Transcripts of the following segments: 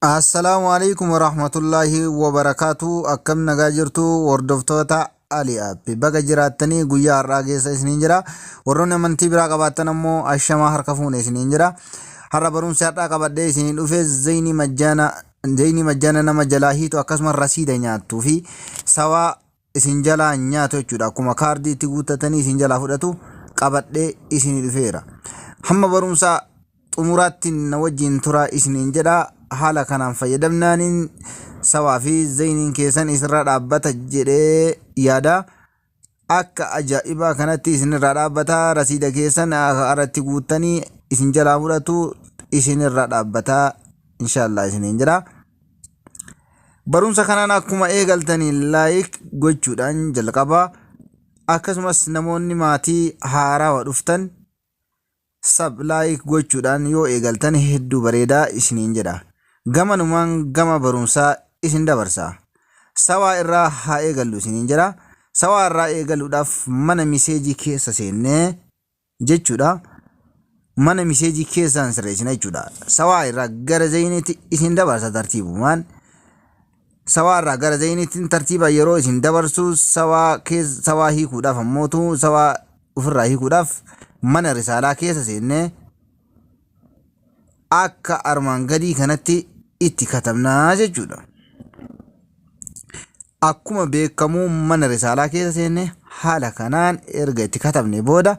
Assalaamu alaikum warahmatullaahi wabarakaatu akkam nagaa jirtu hordoftoota Ali App baga jiraattanii guyyaa har'aa keessa isiniin jira warroonni amantii biraa qabaattan ammoo ashamaa harka fuune isiniin jira har'a barumsi har'aa qabadhee isiniin dhufe zayni majjaana zayni majjaana nama jalaa hiitu akkasumas rasiida nyaattuu fi sawaa isin jalaa hin nyaatu jechuudha. Akkuma kaardii itti guuttatanii isin jalaa fudhatu qabadhee isinii dhufeera. Hamma barumsaa xumuraatti na wajjin turaa isiniin jedha. Haala kanaan fayyadamnaaniin sawaa fi zayiniin keessan isinirraa dhaabbata jedhee yaada. Akka ajaa'ibaa kanatti isinirraa dhaabbata rasiida keessan irratti guuttanii isin jalaa fudhatu isinirraa dhaabbata inshaallah isiniin jedha. Barumsa kanaan akkuma eegaltaniin laayik gochuudhaan jalqabaa akkasumas namoonni maatii haarawa dhuftan sab laayik gochuudhaan yoo eegaltan hedduu bareedaa isiniin jedha. Gamanumaan gama barumsaa isin dabarsa. Sawaa irraa haa eegallu isiniin jedha. Sawaa irraa eegaluudhaaf mana miseejii keessa seennee jechuudha mana miseejii keessaan sirreessina jechuudha. Sawaa irraa gara zayiniitti isin dabarsa tartiibumaan. Sawaa irraa gara zayiniitti tartiiba yeroo isin dabarsu sawaa keessa sawaa hiikuudhaaf ammootu sawaa ofirraa hiikuudhaaf mana risaalaa keessa seennee akka armaan gadii kanatti itti katabnaa jechuudha. Akkuma beekkamu mana risaalaa keessa seenne haala kanaan erga itti katabne booda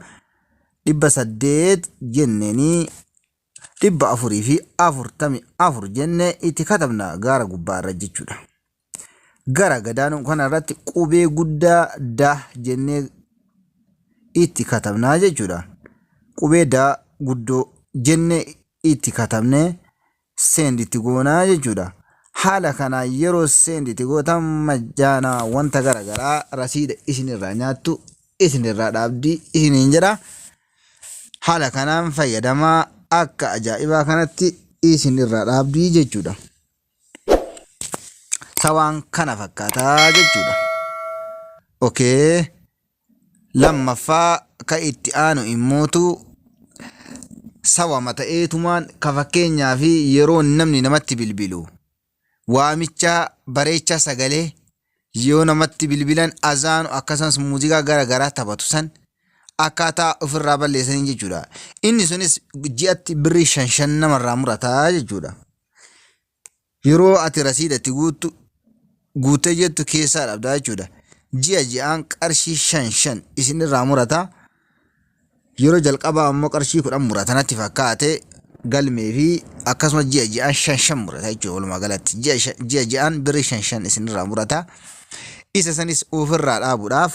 dhibba saddeet jenneenii dhibba afurii fi afurtami afur jenne itti katabna gaara gubbaa irra jechuudha. Gara gadaanuu kana irratti qubee guddaa daa jennee itti katabnaa jechuudha. Qubee daa guddoo jennee itti katabne send itti goona jechuudha. Haala kanaan yeroo send itti gootan majjaana wanta gara garaa rasiida isin irraa nyaattu isin irraa dhaabdi isiniin jedha. Haala kanaan fayyadamaa akka ajaa'ibaa kanatti isin irraa dhaabdi jechuudha. Sawaan kana fakkaataa jechuudha. Okay. Lammaffaa ka itti aanu immootu sawama ta'eetumaan ka fakkeenyaa fi yeroo namni namatti bilbilu waamicha bareecha sagalee yoo namatti bilbilan azaanu akkasumas muuziqaa gara garaa taphatu san akkaataa ofirraa balleessanii jechuudha. Inni sunis ji'atti birrii shan shan namarraa murataa jechuudha. Yeroo ati rasiida itti guuttu guuttee jettu keessaa dhabdaa jechuudha. Ji'a ji'aan qarshii shan shan isin irraa murata. Yeroo jalqabaa ammoo qarshii kudhan murata natti fakkaate galmee fi akkasumas ji'a ji'aan shan shan murata jechuudha walumaa galatti. Ji'a shan- ji'a ji'aan birri shan shan isin irraa murata. Isa sanis ofirraa dhaabuudhaaf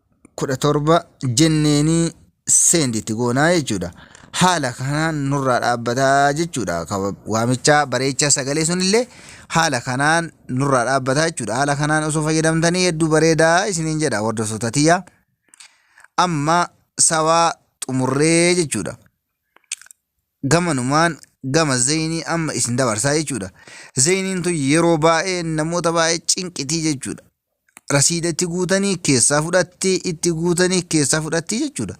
kudha torba jenneenii seendi itti goonaa jechuudha. Haala kanaan nurraa dhaabbataa jechuudha. Waamicha bareecha sagalee sunillee haala kanaan nurraa dhaabbataa jechuudha. Haala kanaan osoo fayyadamtanii hedduu bareedaa isiniin jedha hordoftoota tiyya. Amma sawaa xumurree jechuudha. gamanumaan gama zeynii amma isin dabarsaa jechuudha. Zeyniin tun yeroo baay'ee namoota baay'ee cinqitii jechuudha. Rasiida itti guutanii keessaa fudhatti itti guutanii keessaa fudhatti jechuudha.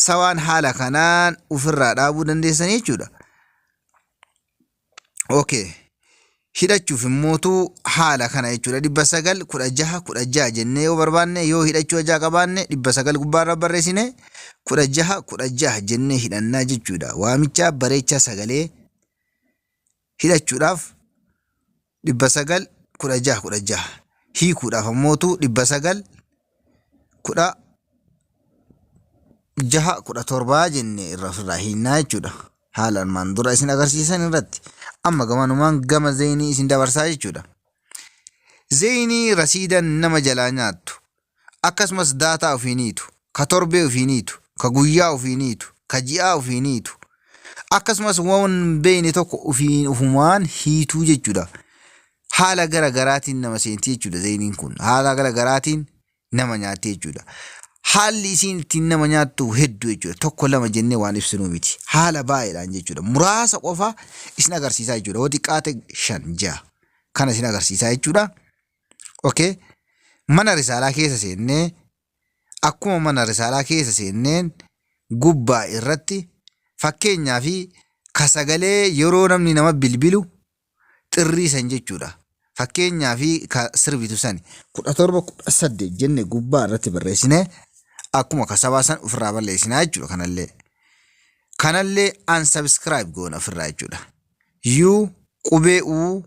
Sawaan haala kanaan ofirraa dhaabuu dandeessan jechuudha. Okay. Hidhachuuf immootu haala kana jechuudha. Dhibba sagal kudha jaha kudha jaha jennee yoo barbaanne yoo hidhachuu hajaa qabaanne dhibba sagal gubbaarra barreessine kudha jaha kudha jaha jennee hidhannaa jechuudha. Waamichaa bareechaa sagalee hidhachuudhaaf 900 16 16 hiikuudhaaf ammootu 900 kudha jaha kudha torbaa jenne irra ofirraa hiinnaa jechuudha. Haala armaan dura isin agarsiisan irratti amma gamanumaan gama zeenii isin dabarsaa jechuudha. Zeenii rasiida nama jalaa nyaattu Akkasumas daataa ufii niitu, ka torbee ufii niitu, ka guyyaa ufii niitu, ka ji'aa ufii niitu, akkasumas waan hin beeyne tokko ufiin ufumaan hiituu jechuu dha. Haala gara garaatiin nama seenti jechuu dha zeyniin kun. Haala gara garaatiin nama nyaatti jechuu dha. Haalli isiin ittiin nama nyaattu heddu jechuu dha. Tokko lama jennee waan ibsinuu miti. Haala baay'eedhaan jechuu dha. Muraasa qofa isin agarsiisaa jechuu dha. Hoo xiqqaate shan, ja'a. Kana isin agarsiisaa jechuu dha. okay? mana risaalaa keessa seennee akkuma mana risaalaa keessa seenneen gubbaa irratti fakkeenyaa fi ka sagalee yeroo namni nama bilbilu xirrii san jechuudha fakkeenyaa fi ka sirbitu sani kudha torba kudha saddeet jenne gubbaa irratti barreessine akkuma ka sabaa san ofirraa balleessinaa jechuudha kanallee kanallee unsubscribe goona ofirraa jechuudha u qubee u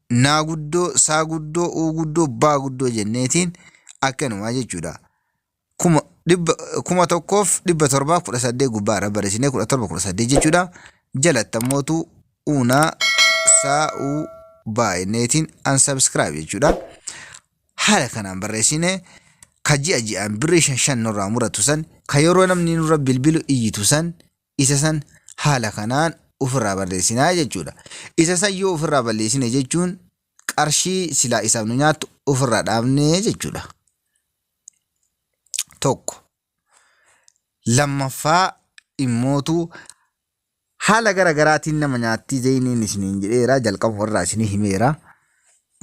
naa guddoo, saa guddoo, uu guddoo, baa guddoo jenneetiin akkanumaa jechuudha. Kuma, dhibba, kuma tokkoof dhibba torbaaf kudha saddeet gubbaa irra barreessinee kudha torba kudha saddeet jechuudha. Jalatti ammootu uunaa saa uu baa jenneetiin unsubscribe jechuudha. Haala kanaan barreessinee ka ji'a ji'aan birrii shan shan nurraa muratu san ka yeroo namni nurra bilbilu iyyitu san isa san haala kanaan ufirraa barreessina jechuudha. Isa san yoo ufirraa balleessine jechuun qarshii silaa isaaf nu nyaattu ufirraa dhaabne jechuudha. Tokko. Lammaffaa immootu haala gara garaatiin nama nyaattii zayiniin isiniin jedheera jalqaba irraa isinii himeera.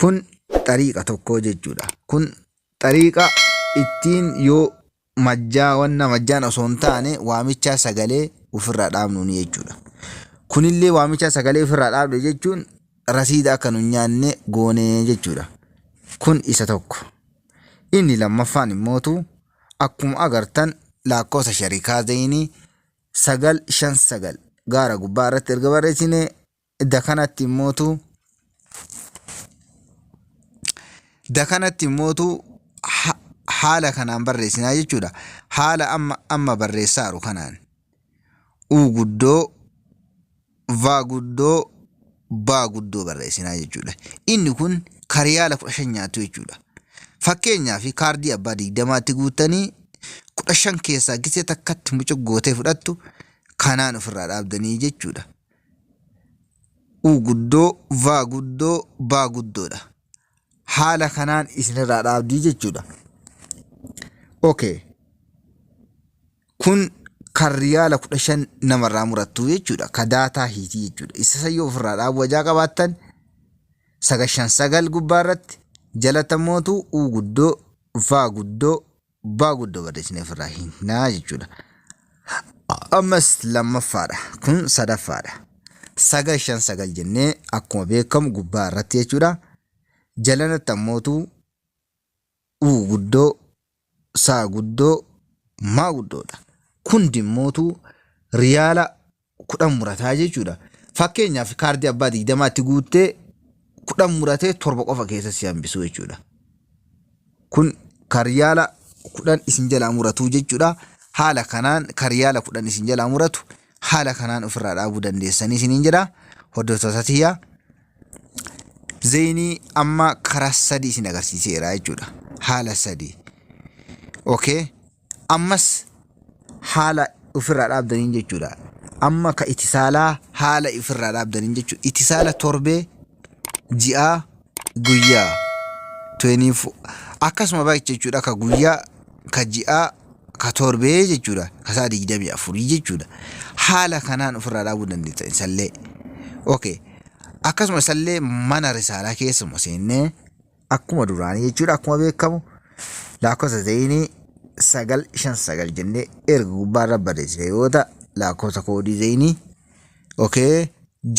Kun xariiqa tokko jechuudha. Kun xariiqa ittiin yoo majjaa wanna majjaan osoo hin taane waamichaa sagalee ofirraa dhaabnuuni jechuudha. Kunillee waamichaa sagalee ofirraa dhaabne jechuun rasiida akka nu nyaanne goone jechuudha. Kun isa tokko. Inni lammaffaan immootu akkuma agartan laakkoofsa sharikaa zayinii sagal shan sagal gaara gubbaa irratti erga barreessine da kanatti immootu da kanatti immootu ha- haala kanaan barreessinaa jechuudha. Haala amma amma barreessaaru kanaan u guddoo va guddoo baa guddoo barreessinaa jechuudha. Inni kun kariyaala kudha shan nyaatu jechuudha. Fakkeenyaaf kaardii abbaa digdamaatti guuttanii kudha shan keessaa gisee takkatti mucuq gootee fudhattu kanaan ofirraa dhaabdanii jechuudha. u guddoo, va guddoo, baa guddoodha. Haala kanaan isinirraa dhaabdii jechuudha. Okay. Kun kan riyaala kudha shan namarraa murattu jechuudha. Ka daataa hiitii jechuudha. Isa sayyoo ofirraa dhaabuu ajaa qabaattan sagashan sagal gubbaa irratti jalata mootu u guddoo, va guddoo, Gubbaa guddoo barreessinee ofirraa hiikna jechuudha. Ammas lammaffaadha. Kun sadaffaadha. Sagal shan sagal jennee akkuma beekamu gubbaa irratti jechuudha. Jalanatti ammootu u guddoo, saa guddoo, maa guddoodha. Kun dimmootu riyaala kudhan murataa jechuudha. Fakkeenyaaf kaardii abbaa digdamaatti guuttee kudhan muratee torba qofa keessa si hambisuu jechuudha. Kun karyaala kudhan isin jalaa muratuu jechuudha. Haala kanaan karyaala kudhan isin jalaa muratu haala kanaan ofirraa dhaabuu dandeessanii isiniin jedha. Hordoftoota tiyyaa zeenii amma karaa sadii isin agarsiiseera jechuudha. Haala sadii. Okay. ammas haala ofirraa dhaabdaniin jechuudha. Amma ka itisaalaa haala ofirraa dhaabdaniin jechuudha. Itisaala torbee, ji'aa, guyyaa. 24 akkasuma baay'ee jechuudha ka guyyaa, ka ji'aa, ka torbee jechuudha. Ka isaa 24 jechuudha. Haala kanaan ofirraa dhaabuu dandeessan isallee. Okay. Akkasuma isallee mana risaalaa keessuma seennee akkuma duraanii jechuudha akkuma beekamu lakkoofsa zeeyinii sagal shan sagal jennee erga gubbaarra barreessine yoo ta'a lakkoofsa koodii zeeyinii okee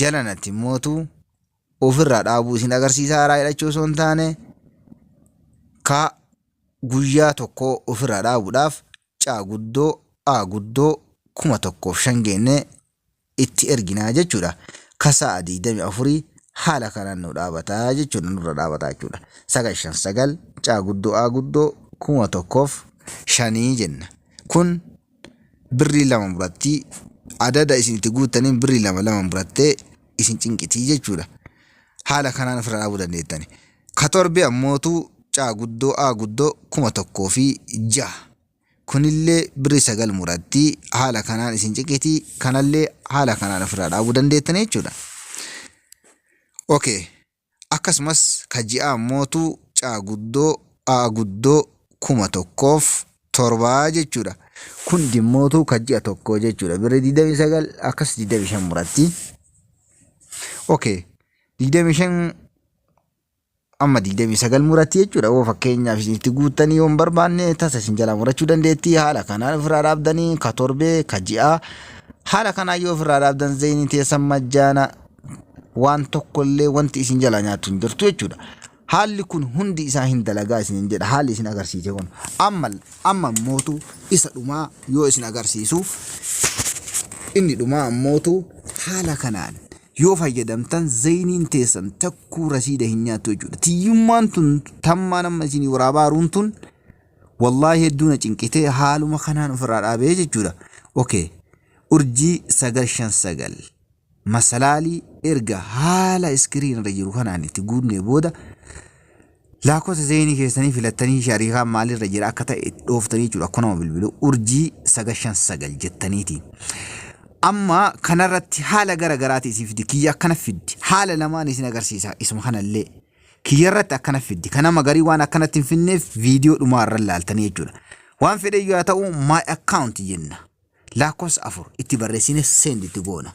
jalanatti immootu ofirraa dhaabuu isin agarsiisa haaraa hidhachuu osoo hin taane ka guyyaa tokko ofirraa dhaabuudhaaf caa guddoo a guddoo kuma tokkoof shan geenne itti erginaa jechuudha. Ka sa'a 24 haala kanaan nu dhaabata jechuudha nurra dhaabata jechuudha. 959 caa guddoo aa guddoo 1000f shanii jenna. Kun birrii lama muratti adada isin itti guuttaniin birrii lama lama murattee isin cinqitii jechuudha. Haala kanaan ofirra dhaabuu dandeettani. Ka torbee ammootu caa guddoo aa guddoo 1006 Kunillee birrii 9 muratti haala kanaan isin ciqitii kanallee haala kanaan ofirraa dhaabuu dandeettanii jechuudha. Okay. Akkasumas ka ji'aa immootu caa guddoo aa guddoo kuma tokkoof torbaa jechuudha. Kun dimmootu ka ji'a tokkoo jechuudha. Birrii 29 akkas 25 muratti. Okay. 25 amma 29 muratti jechuudha yoo fakkeenyaaf isin itti guuttanii yoo hin barbaanne tasa isin jalaa murachuu dandeetti haala kanaan ofirraa dhaabdanii ka torbee ka ji'aa haala kanaan yoo ofirraa dhaabdan zayinii teessan majjaana waan tokkollee wanti isin jalaa nyaattu hin jirtu jechuudha. Haalli kun hundi isaa hin dalagaa isin jedha haalli isin agarsiise kun amma amma mootu isa dhumaa yoo isin agarsiisu inni dhumaa ammootu haala kanaan yoo fayyadamtan zeyniin teessan takkuu rasiida hin nyaattu jechuudha. Tiyyummaan tun tammaan amma isinii waraabaa haruun tun wallaahi hedduu na cinqitee haaluma kanaan ofirraa dhaabee jechuudha. Okay. Urjii sagal shan sagal masalaalii erga haala iskiriin irra jiru kanaan itti guutnee booda Laakkosa zeenii keessanii filattanii shariikaan maalirra jira akka ta'e itti dhooftanii jechuudha akkuma nama bilbilu urjii sagal shan sagal jettaniiti. Amma kanarratti haala gara garaati isin fiddi kiyya akkana fiddi haala lamaan isin agarsiisa isuma kanallee kiyyarratti akkana fiddi kan nama garii waan akkanatti hin finneef viidiyoo dhumaa irra laaltanii jechuudha. Waan fedhe yoo ta'u my account jenna laakkosa afur itti barreessine send itti goona.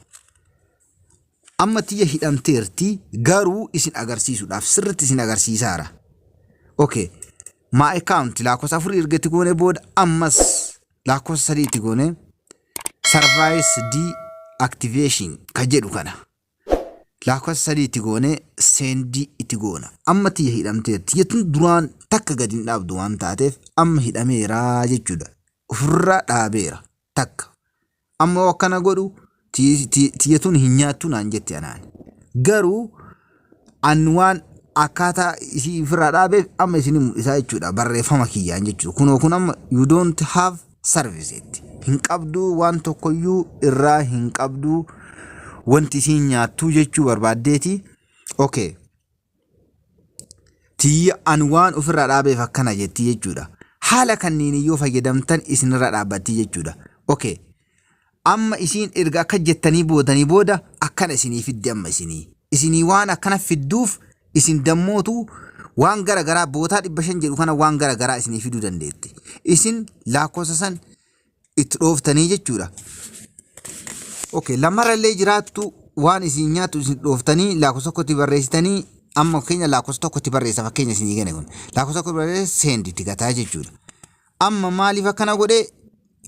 Amma tiyya hidhamteerti garuu isin agarsiisuudhaaf sirritti isin agarsiisaara. Okay. My account lakkoofsa afurii erga itti goone booda ammas lakkoofsa sadii itti goone service deactivation kan jedhu kana lakkoofsa sadii itti goone seendi itti goona. Amma tiyya hidhamteerti jechuun duraan takka gadi hin dhaabdu waan taateef amma hidhameera jechuudha. Ofirraa dhaabeera takka. Amma akkana godhu tiyyatuun hin nyaattu naan jette anaan. Garuu an waan akkaataa isii ofirraa dhaabeef amma isin mul'isaa jechuudha barreeffama kiyyaan jechuudha. Kunoo kun amma you don't have service jetti. Hin qabduu waan tokkoyyuu irraa hin qabduu wanti isiin nyaattuu jechuu barbaaddeeti. Okay. tiyya an waan ofirraa dhaabeef akkana jetti jechuudha. Haala kanniin yoo fayyadamtan isinirraa dhaabbatti jechuudha. Okay. Amma isiin erga akka jettanii boodanii booda akkana isinii fiddi amma isinii. Isinii waan akkana fidduuf isin dammootu waan gara garaa bootaa dhibba shan jedhu kana waan gara garaa isinii fiduu dandeetti. Isin laakkoofsa san itti dhooftanii jechuudha. Okay, lamarra illee jiraattu waan isin nyaattu isin dhooftanii lakkoofsa tokkotti barreessitanii amma fakkeenya lakkoofsa tokkotti barreessa fakkeenya isin eegane kun lakkoofsa tokkotti barreessa seendi itti gataa jechuudha. Amma maaliif akkana godhee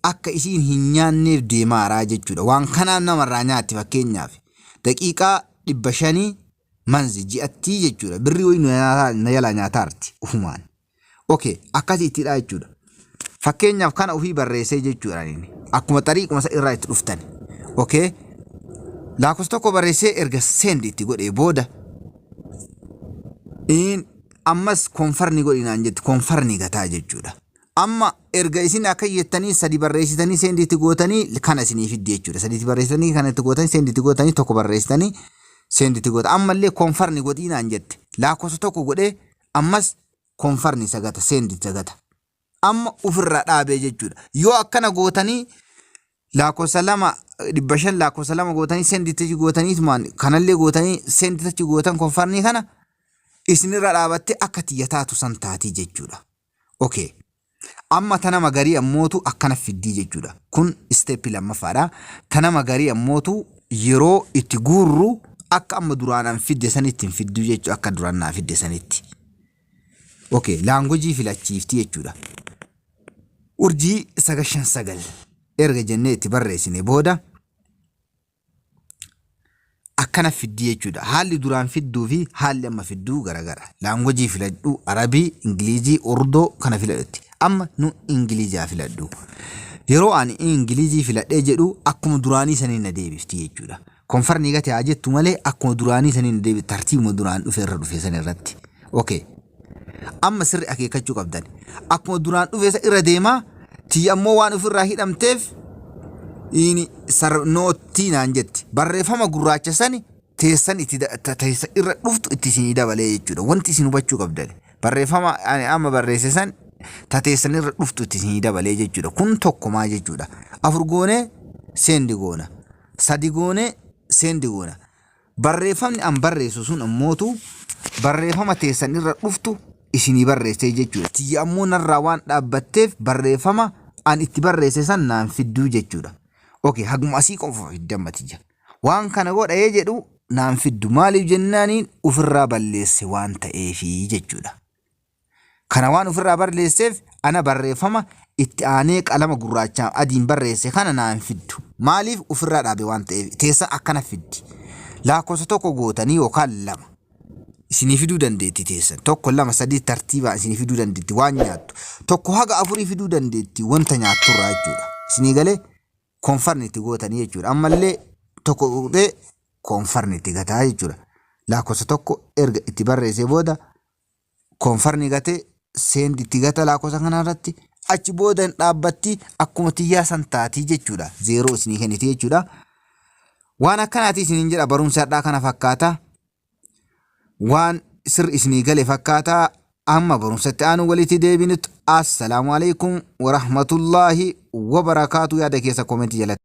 akka isiin hin nyaanneef deemaaraa jechuudha. Waan kanaan namarraa nyaatti fakkeenyaaf daqiiqaa dhibba shanii manzi ji'attii jechuudha. Birrii wayii na jalaa nyaataarti ufumaan. Okay, akkasiitidha jechuudha. Fakkeenyaaf kana ofii barreessee jechuudha inni. Akkuma xariiquma isa irraa itti dhuftan. Okay. Lakkoofsa tokko barreessee erga send itti godhee booda in ammas konfarni godhinaan jettu konfarni gataa jechuudha. Amma erga isin akka jettanii sadi barreessitanii send itti gootanii kana isinii fiddi jechuudha. Sadi itti barreessitanii kana itti gootanii send itti gootanii tokko barreessitanii send itti goota. Ammallee konfarni godhinaan jette. Lakkoofsa tokko godhee ammas confirm isa gata send isa gata amma ofirraa dhaabee jechuudha yoo akkana gootanii lakkoofsa lama dhibba shan lakkoofsa lama gootanii send itti gootanii tumaan kanallee gootanii send itti gootan confirm kana isinirra dhaabattee akka tiyya taatu san taatii jechuudha okay Amma ta nama garii ammootu akkana fiddii jechuudha. Kun step lammaffaadha. Ta nama garii ammootu yeroo itti guurru akka amma duraan an fidde sanitti hin fidduu jechuudha akka duraan naa fidde sanitti. Ok laangojii filachiifti jechuudha. Urjii sagal shan sagal erga jennee itti barreessine booda akkana fiddi jechuudha. Haalli duraan fidduu fi haalli amma fidduu garagara. Laangwajii filadhu, Arabii, Ingilizii, Urdoo kana filadhetti. Amma nu Ingilizaa filadhu. Yeroo ani Ingilizii filadhee jedhu akkuma duraanii saniin na deebifti jechuudha. Konfarnii gate haa jettu malee akkuma duraanii saniin na deebifti tartiibuma duraan dhufe irra dhufe san irratti. Okay. Amma sirri akeekkachuu qabdan. Akkuma duraan dhufe sa irra deemaa tiyya ammoo waan ofirraa hidhamteef ini sar noottii naan jetti. Barreeffama gurraacha sani teessan itti da- ta- teessa irra dhuftu itti isinii dabalee jechuudha. Wanti isin hubachuu qabdan. Barreeffama ani amma barreesse san ta teessan irra dhuftu itti isinii dabalee jechuudha. Kun tokkumaa jechuudha. Afur goonee seendi goona. Sadi goonee seendi goona. Barreeffamni an barreessu sun ammootu barreeffama teessan irra dhuftu isinii barreessee jechuudha. Tiyya ammoo narraa waan dhaabbatteef barreeffama an itti barreesse san naan fidduu jechuudha. Ok haguma asii qofa fiddi amma tiyya. Waan kana godha yee jedhu naan fiddu maaliif jennaaniin ufirraa balleesse waan ta'eefi jechuudha. Kana waan ofirraa barleesseef ana barreeffama itti aanee qalama gurraachaan adiin barreesse kana naa hin fiddu. Maaliif ofirraa dhaabe waan ta'eef teessan akkana fiddi. Laakkofsa tokko gootanii yookaan lama isinii fiduu dandeetti teessan. Tokko lama sadii tartiibaan isinii fiduu dandeetti waan nyaattu. Tokko haga afurii fiduu dandeetti wanta nyaatturraa jechuudha. Isinii galee koonfarni itti gootanii jechuudha. Ammallee tokko tuqxee koonfarni itti gataa jechuudha. Laakkofsa tokko erga itti barreessee booda konfarni gate send itti gata laakosa kana irratti achi booda hin dhaabbatti akkuma tiyyaa san taati jechuudha zeeroo isinii kenniti jechuudha waan akkanaati isiniin jedha barumsa hadhaa kana fakkaata waan sir isinii gale fakkaata amma barumsatti aanu walitti deebinutti assalaamu alaikum warahmatullaahi wabarakaatu yaada keessa koomenti jalatti